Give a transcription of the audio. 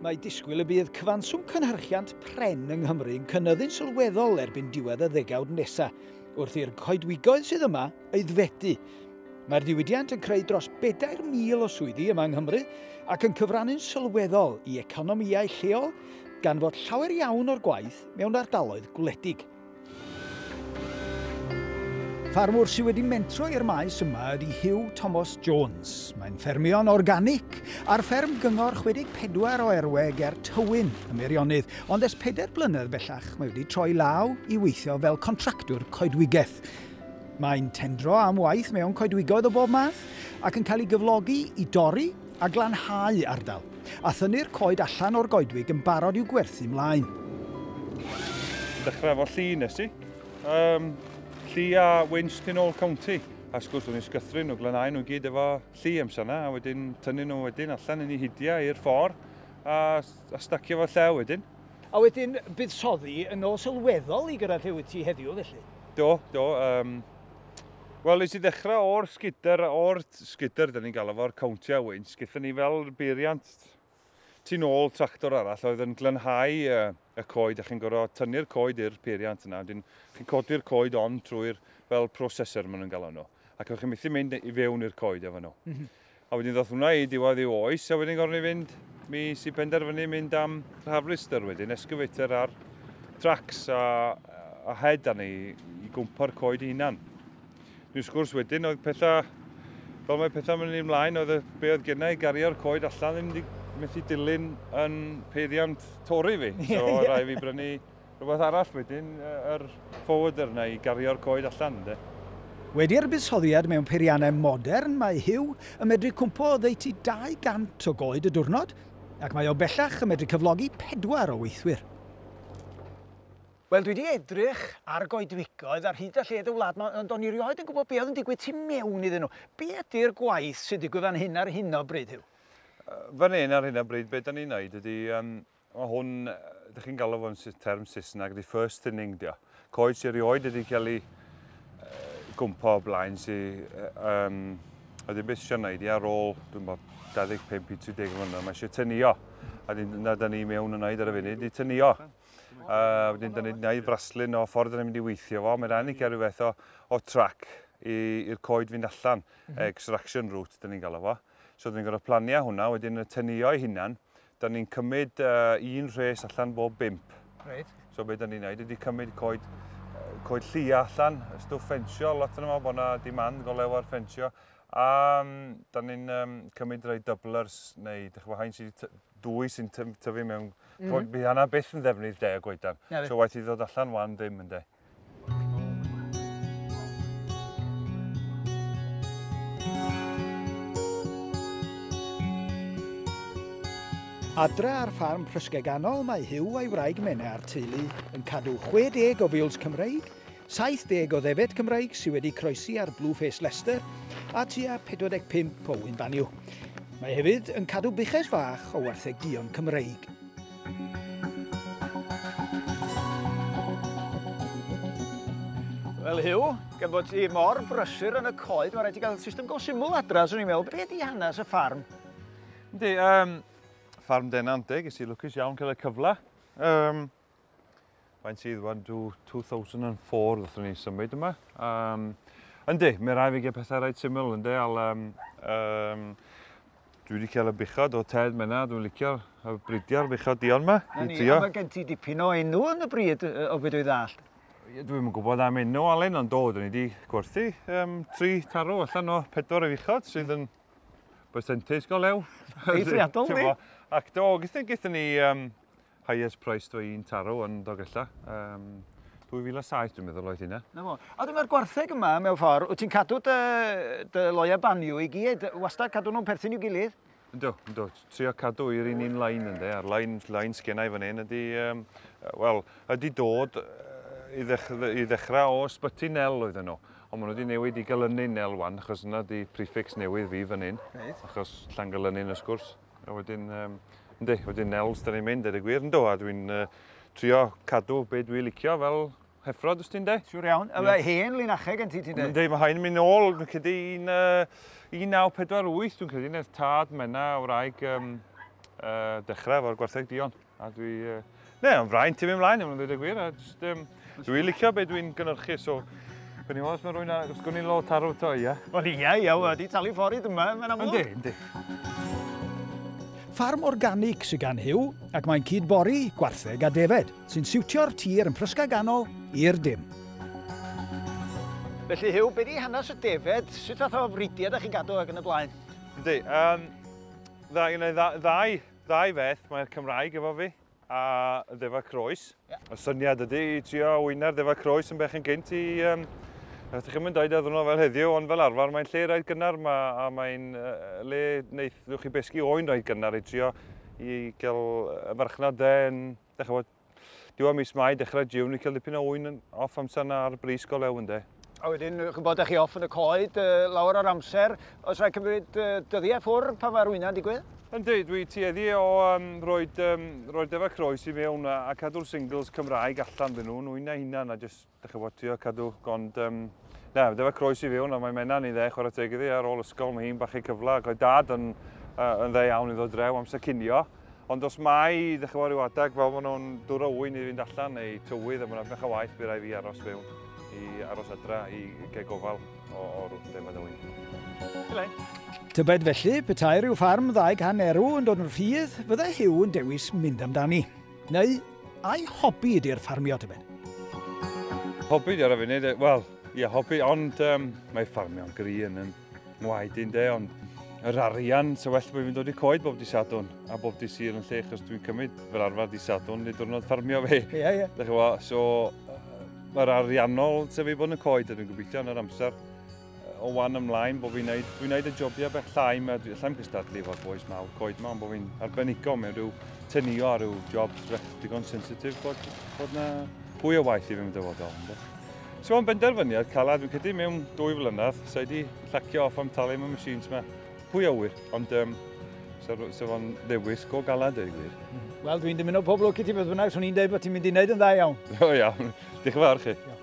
Mae disgwyl y bydd cyfanswm cynhyrchiant pren yng Nghymru yn cynyddu'n sylweddol erbyn diwedd y ddegawd nesaf, wrth i'r coedwigoedd sydd yma aeddfedu. Mae'r diwydiant yn creu dros 4,000 o swyddi yma yng Nghymru ac yn cyfrannu'n sylweddol i economïau lleol, gan fod llawer iawn o'r gwaith mewn ardaloedd gwledig. Ffarmwr sydd wedi mentro i'r maes yma ydy Hugh Thomas Jones. Mae'n ffermio'n organic ar fferm gyngor 64 o Erwe ger Tywyn, y Meirionnydd, ond ers pedair blynedd bellach mae wedi troi law i weithio fel contractwr coedwigaeth. Mae'n tendro am waith mewn coedwigoedd o bob math ac yn cael ei gyflogi i dorri a glanhau ardal, a thynnu'r coed allan o'r goedwig yn barod i'w gwerthu 'mlaen. Dechrau efo lli nes ti. Um, lli a winch tu nôl county. A sgwrs o'n i'n sgythru nhw, glanhau nhw gyd efo lli amser yna, a wedyn tynnu nhw wedyn allan yn ei hidiau i'r ffordd, a, a stacio fo llew wedyn. A wedyn buddsoddi yn ôl sylweddol i gyrraedd lle wyt ti heddiw felly? Do, do. Um, Wel, nes i ddechrau o'r sgidr, o'r sgidr, da ni'n galw fo'r cowntiau wynt, gyda ni fel beiriant tu nôl tractor arall oedd yn glynhau y, y coed, a chi'n gorfod tynnu'r coed i'r peiriant yna, wedyn chi'n codi'r coed on trwy'r fel processor maen nhw'n galw nhw, ac chi'n methu mynd i fewn i'r coed efo nhw. Mm -hmm. A wedyn ddoth hwnna i diwedd ei oes a wedyn gorfod ni fynd, mi si penderfynu mynd am harvester wedyn, excavator ar tracks a, a head arni i gwmpa'r coed hunan. Dwi'n sgwrs wedyn oedd pethau, fel mae pethau mynd i'n mlaen, oedd y, be oedd gennau i gario'r coed allan ddim wedi methu dilyn yn peiriant tori fi. So yeah. rai fi brynu Rhywbeth arall wedyn, yr forwarder 'na i gario'r coed allan, ynde? Wedi'r buddsoddiad mewn peiriannau modern mae Huw yn medru cwmpo oddeutu 200 o goed y diwrnod ac mae o bellach yn medru cyflogi pedwar o weithwyr. Wel dwi 'di edrych ar goedwigoedd ar hyd a lled y wlad 'ma ond o'n i 'rioed yn gwybod be oedd yn digwydd tu mewn iddyn nhw. Be ydi'r gwaith sy'n digwydd fan hyn ar hyn o bryd Huw? Fan hyn ar hyn o bryd be 'dan ni'n neud ydi yym Mae hwn, ydych chi'n galw fo'n term Saesneg, the first thinning dio. Coed sy'n rioed wedi cael ei gwmpa o blaen sy'n... Um, a ddim beth eisiau gwneud i ar ôl, dwi'n bod, 25 i 30 mlynedd, mae eisiau tynio. A dyn, na, da ni mewn yn wneud ar y funud, i tynio. A wedyn, da ni'n gwneud fraslun o ffordd yn mynd i weithio fo. Mae'n rhaid i gael rhywbeth o, o trac i'r coed fynd allan, mm -hmm. extraction route, da ni'n galw fo. So, da ni'n gorfod planiau hwnna, wedyn y tynio ei hunan, Da ni'n cymryd uh, un rhes allan bob bimp. Reit. So beth da ni'n neud ydy cymryd coed, coed llia allan, stwff ffensio, lot yna bod yna dimand go lew ar ffensio. A um, da ni'n um, cymryd rhai doublers, neu dych chi'n hain sydd dwy sy'n tyfu mewn... Mm. Bydd hynna byth yn ddefnydd de, y goedan. So waith i ddod allan wan ddim, ynddo. Adre ar ffarm Prysgeganol mae Huw a'i wraig Mena a'r teulu yn cadw 60 o fils Cymreig, 70 o ddefed Cymreig sydd wedi croesi ar Blue Face Leicester a tua 45 o wyn banio. Mae hefyd yn cadw buches fach o warthegion Cymreig. Wel Huw, gan bod ti mor brysur yn y coed, mae'n rhaid ti gael system go syml adra, swn i'n meddwl. Be di hanes y ffarm? Yndi, um, ffarm Denanteg, ys i lwcus iawn cael y cyfle. Um, Faint sydd? 1, 2, 2004 ddethon ni symud yma. Um, yndi, mae rai fi gael pethau rhaid syml, yndi, al, um, um, dwi wedi cael y buchod o Ted Mena, dwi'n licio y bridiau'r buchod dion yma. Na ni, a mae gen ti dipyn o enw yn y bryd o beth dwi'n ddall. Dwi'n yn gwybod am enw Alun, ond dod yn i wedi gwerthu um, tri tarw allan o pedwar o fuchod sydd yn percentage go lew. Eithriadol ni. Ac do, gyda ni um, highest price dwi i'n taro yn Dogella. Um, 2007 dwi'n meddwl oedd hynna. Na fo. A dyma'r gwartheg yma mewn ffordd, wyt ti'n cadw dy, dy loia banio i gyd, wastad cadw nhw'n perthyn i'w gilydd? Ynddo, ynddo. Trio cadw i'r un un lain ynddo. A'r lain, lain sgennau fan hyn ydy, um, wel, ydy dod i, ddech, i ddechrau o ysbyty nel oedd yno. Ond maen nhw wedi newid i galynu nel wan, achos yna di prefix newydd fi fan hyn. Reit. Achos Llangolynyn, wrth gwrs. A wedyn, um, ynddi, wedyn Nels, da ni'n mynd, er y gwir, ynddo, a dwi'n uh, trio cadw be dwi'n licio fel heffrod, ys ti'n de? Siwr iawn. Yma yeah. hen linacheg yn ti, ti'n de? Ynddi, mae hyn yn mynd ôl, dwi'n credu, un, uh, 1948, dwi'n credu, nes tad mena wraig um, uh, dechrau efo'r gwartheg dion. A dwi... Uh, ne, yn fraint i fi ymlaen, yn dweud y gwir. A just, um, dwi'n licio beth dwi'n gynnyrchu, so... Gwyn i'n os mae rwy'n a... Gwyn i'n lo tarw to, ia? Wel, ia, ia, wedi talu ffordd yma, mae'n amlwg. Yndi, yndi. Ffarm organic sy'n gan Hugh, ac mae'n cyd bori, gwartheg a defed, sy'n siwtio'r tir yn prysga ganol i'r dim. Felly Hugh, beth i hanes y defed? Sut fath o fridiau ydych chi'n gadw ac yn y blaen? Yndi, um, ddau, ddau, ddau Ddau feth, mae'r Cymraeg efo fi, a ddefa croes. Yeah. Y syniad ydy i trio wyna'r ddefa croes yn bech yn gynt i... Um, Ydych chi'n mynd dweud ar ddwrnod fel heddiw, ond fel arfer mae'n lle rhaid gynnar ma, a mae'n uh, le wneud chi besgu oen rhaid gynnar i trio i gael y farchnad dde yn, ddech chi'n diwedd mis Mai, dechrau June, ni'n cael dipyn o ŵyn off amser yna ar bris go lew ynddo. A wedyn, chi'n bod, chi off yn y coed uh, lawer o'r amser. Os rhaid cymryd uh, dyddiau ffwr pan mae'r wyna'n digwydd? Ynddi, dwi tueddu o um, roed, um, roed efa croes i mewn a, a cadw'r singles Cymraeg allan dyn nhw, nhw'n eu hunan a jyst Dach chi'n gwybod, trio cadw, ond um, na, dyfa croes i fiwn, ond mae Menna ni'n dde, chwarae teg iddi, ar ôl ysgol, mae hi'n bach ei cyfle, ac oedd dad yn, uh, yn dde iawn i ddod drew amser cinio, ond os mai, dych chi'n rhyw adeg, fel maen nhw'n dwr o wyn i fynd allan, neu tywydd, a mae'n edrych o waith, bydd rai fi aros fewn, i aros adra, i gael gofal o, o rwyd defod o wyn. Tybed felly, petai rhyw ffarm ddaeg hannerw yn dod yn rhydd, fyddai Hugh yn dewis mynd amdani. Neu ai hobi ydy'r ffarmio tybed? Hobi ar y funud, wel, ie, hobi, ond um, mae ffarmio'n gri yn yn ngwaed i'n de, ond yr arian, so well bod fi'n dod i coed bob di sadwn a bob di sir yn lle, achos dwi'n cymryd fel arfer di sadwn, nid diwrnod ffarmio fe. Ie, yeah, ie. Yeah. Dych chi'n so, mae'r ariannol sef ei bod yn y coed a dwi'n gobeithio yn yr amser o wan ymlaen bod fi'n neud, dwi'n neud y jobiau beth llai, mae llai'n gystadlu efo'r boes mawr coed yma, ond bod fi'n arbenigo mewn rhyw tynio ar rhyw jobs digon sensitif bod, bod na hwy o waith i fi'n dyfodol. So mae'n benderfyniad calad, fi'n cedi mewn dwy flynedd, so wedi llacio off am talu mewn machines yma. Hwy o wir, ond um, so, so fo'n ddewis go galad ei wir. Wel, dwi'n dymuno pob lwc i ti beth bynnag, swn i'n dweud bod ti'n mynd i wneud yn dda iawn. O iawn, diolch yn fawr chi. Iawn.